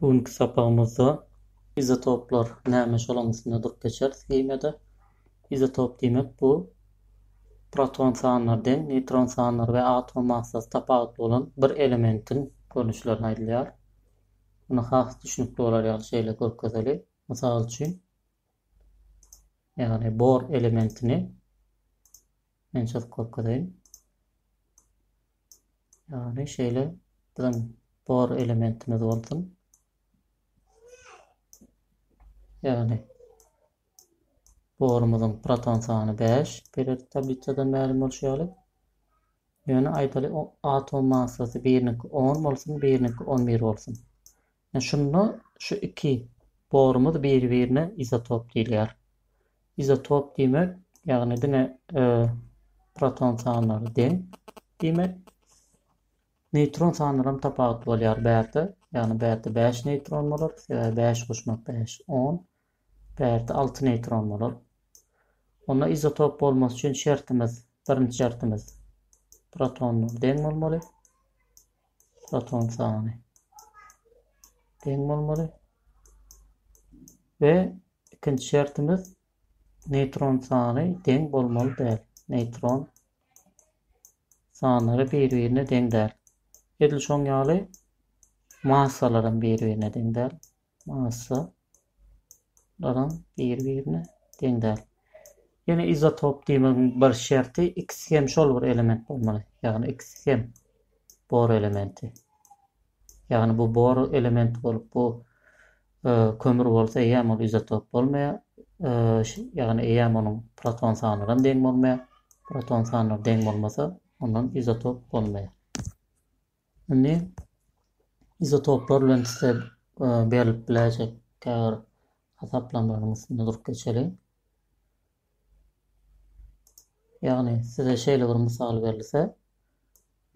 Bu günki sapagymyzda izotoplar näme şolaň üstünde durup geçeris himiýada. Izotop diýmek bu proton sanlary deň, neýtron sanlary we atom massasy tapawutly bolan bir elementiň görnüşlerine aýdylýar. Muny has düşünikli bolar ýaly şeýle görkezeli. Mysal üçin, ýagny bor elementini Men çyzyp görkezeýin. Ýagny şeýle biziň bor elementimiz bolsun. Ýagny borumyzyň proton sany 5 periyodik tablisadan mälim bolşy ýaly. Ýöne aýdaly atom massasy biriniňki 10 bolsun, biriniňki 11 bolsun. Ine şunda şu iki borumyz biri-birine izotop diýilýär. Izotop diýmek, ýagny diňe proton sanlary deň diýmek. Neýtron sanlaram tapawutly bolýar bärde. Ýagny bärde bäş neýtron bolar, sebäbi bäş goşmak bäş, on. Bärde alty neýtron bolar. Onda izotop bolmasy üçin şertimiz, birinji şertimiz protonlar deň bolmaly. Foton sany deň bolmaly. Ve ikinci şertimiz neýtron sany deň bolmaly däl. Neýtron sanlary bir-birine deň däl. Edil şoň ýaly massalar hem bir-birine deň däl. massa laram biri birine deň däl. Ýene izotop diýmegiň bir şerti ikisi hem şol bir element bolmaly. Ýagny ikisi hem bor elementi. Ýagny bu bor elementi bolup bu e, kömür bolsa eýäm ol izotop bolmaýar. E, ýagny eýäm onuň proton sanlaram deň bolmaýar. Proton sanlar deň bolmasa ondan izotop bolmaýar. Indi izotoplar bilen size e, berilip biläýjek käbir hasaplamalaryň üstünde durup geçeli. Ýagny size şeýle bir mysal berilse,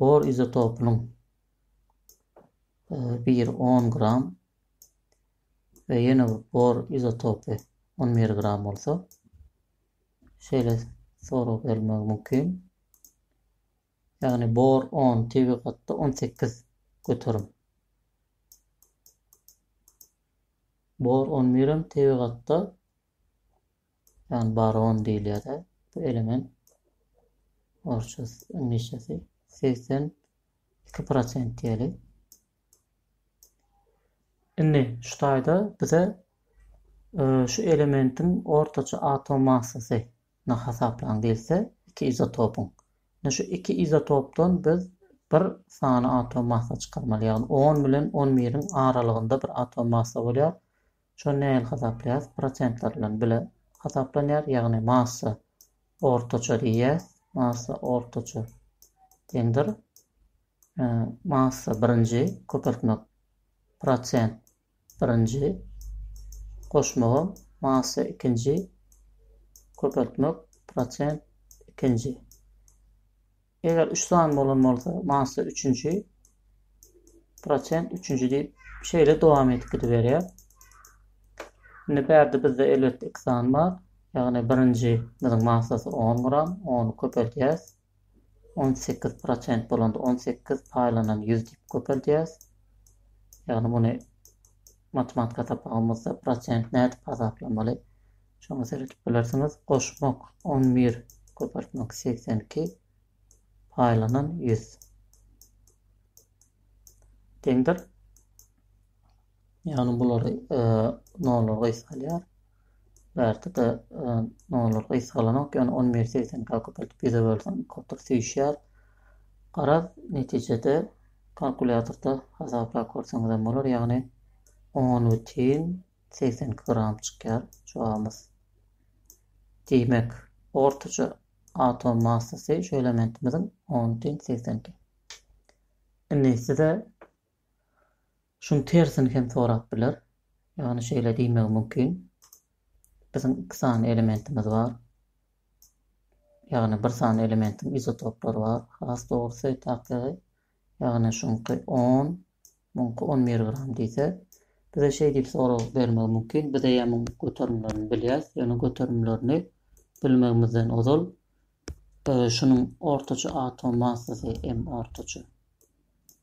bor izotopynyň e, bir 10 gram we ýene bir bor izotopy 11 gram bolsa, şeýle sorag berilmegi mümkin. Ýagny bor on, tebigatda on sekiz göterim. Bor on birem tebigatda ýagny baron diýilýär-de bu element. Orçus ingilisçesi segsen iki prosent diýeli. Indi şu taýda bize e, şu elementiň ortaça atom massasy ny hasaplaň diýilse, iki izotopyň. Indi şu iki izotopdan biz bir sany atom massa çykarmaly, ýagny on bilen on biriň aralygynda bir atom massa bolýar. Şony nähili hasaplaýarys? Prosentler bilen bile hasaplanýar, ýagny massa ortaça diýýäs, massa ortaça deňdir, massa birinji köpeltmek prosent birinji, goşmaga massa ikinji, köpeltmek prosent ikinji. Eger üç san bolan bolsa, massa üçünji, prosent üçünji diýip şeýle dowam edip gidiberýär. Indi bärde bizde elbetde iki san bar. Ýagny birinji biziň massasy 10 gram, ony köpeldýäs. On sekiz prosent bolanda on sekiz paýlanan ýüz diýip köpeldýäris. Ýagny muny matematika sapagymyzda prosent nädip hasaplamaly? Şoňa seredip bilersiňiz. Goşmak on bir köpeltmek segsen iki paýlanan ýüz deňdir. Ýagny bulary nollar gysgalýar. Bärde-de nollar gysgalanok, ýagny on biri segsenkä köpeltip ýüze bölseň kotr süýşýär. Garaz, netijede kalkulýatorda hasaplap görseňizem bolar, ýagny on bütin segsen iki gram çykýar jogabymyz. Diýmek, ortaça atom massasy şu elementimiziň on bütin segsen iki. Indi size Şuň tersini hem sorap biler. Ýagny şeýle diýmegi mümkin. Biziň iki sany elementimiz bar. Ýagny bir sany elementiň izotoplary bar. Has dogrusy, taklygy, ýagny şuňky on, muňky on bir gram diýse, bize şeý diýip sorag bermegi mümkin, bize ýa muň göterimlerini bilýäs, ýöne göterimlerini bilmegimizden ozal şunuň ortaça atom massasy, m ortaça.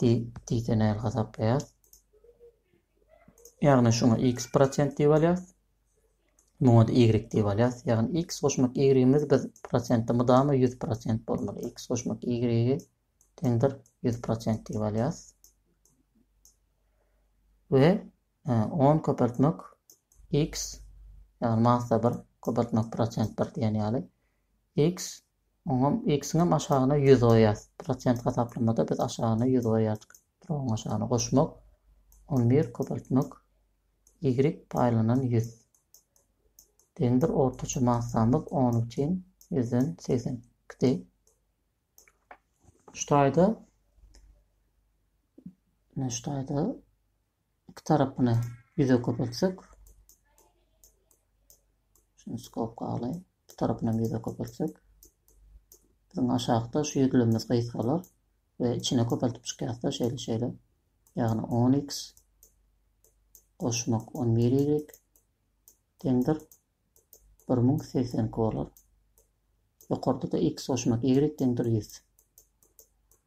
Di, diýse näl hasaplaýas? Ýagny şuňa x prosent diýip alýas. Muňa da y diýip alýas. Ýagny x goşmak y-imiz biz prosentde mydama 100 prosent bolmaly. x goşmak y-i teňdir 100 prosent diýip alýas. We 10 e, köpeltmek x ýagny massa 1 köpeltmek prosent 1 diýen ýaly x Oňam ikisiňem aşagyna ýüz goýýas. Prosent hasaplamada biz aşagyna ýüz goýýardyk. Drogyň aşagyna goşmak, on bir köpeltmek, ýigrik paýlanan ýüz. Deňdir ortaça massamyz on üçin ýüzden segsen ikidi. Şu taýda şu taýda iki tarapyny ýüze köpeltsek şuny skop galy iki tarapyny hem ýüze köpeltsek biziň aşakda şu ýüzlemimiz gysgalar we içine köpeltip çykýarsa şeýle şeýle ýagny 10x goşmak 11 y deňdir 1082 bolar ýokarda da x goşmak y deňdir 100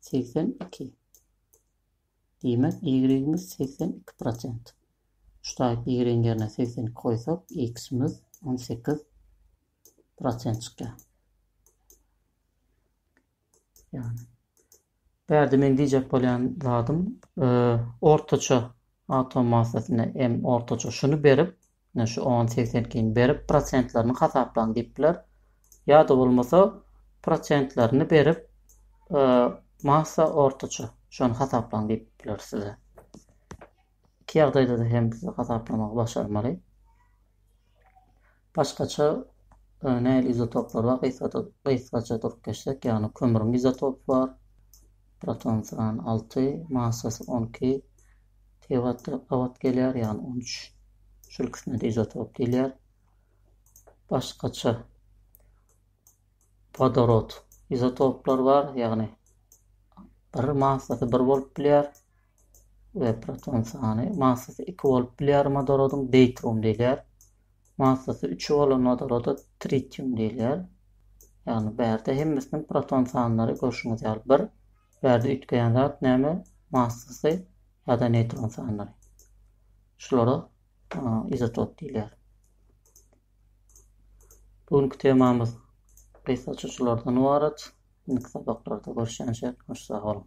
segsen iki. Diýmek, y-imiz segsen iki prosent. Ştaýt y-iň ýerine segsen iki goýsak, x-imiz on sekiz prosent çykýar. Ýagny, bärde meň diýjek bolýan zadym, ortaça Atom massasyna m ortaça şuny berip, ine şu on segsen ikini berip prosentlerini hasaplaň diýip biler. Ýa-da bolmasa prosentlerini berip massa ortaça şony hasaplaň diýip biler size. Iki ýagdaýda-da hem size hasaplamagy başarmaly. Başgaça nähili izotoplar bar? Gysgaça durup geçsek, ýagny kömrüň izotopy bar, proton sany alty, massasy on iki tewatta gabat gelýär, ýagny on üç. Şul ikisine-de izotop diýilýär. Başgaça wodorod izotoplar bar, ýagny bir massasy bir bolup bilýär. we proton sany massasy iki bolup bilýär wodorodyň deýtrum diýilýär. Massasy üç bolan wodoroda tritium diýilýär. Ýagny bärde hemmesiniň proton sanlary görşüňiz ýaly bir. Bärde üýtgeýän zat näme? Massasy ýa-da neýtron sanlary. Şulara izotop diýilýär. Bu günki temamyz gysgaça şulardan ybarat. Indiki sapaklarda görüşýänçä, hoş sag boluň.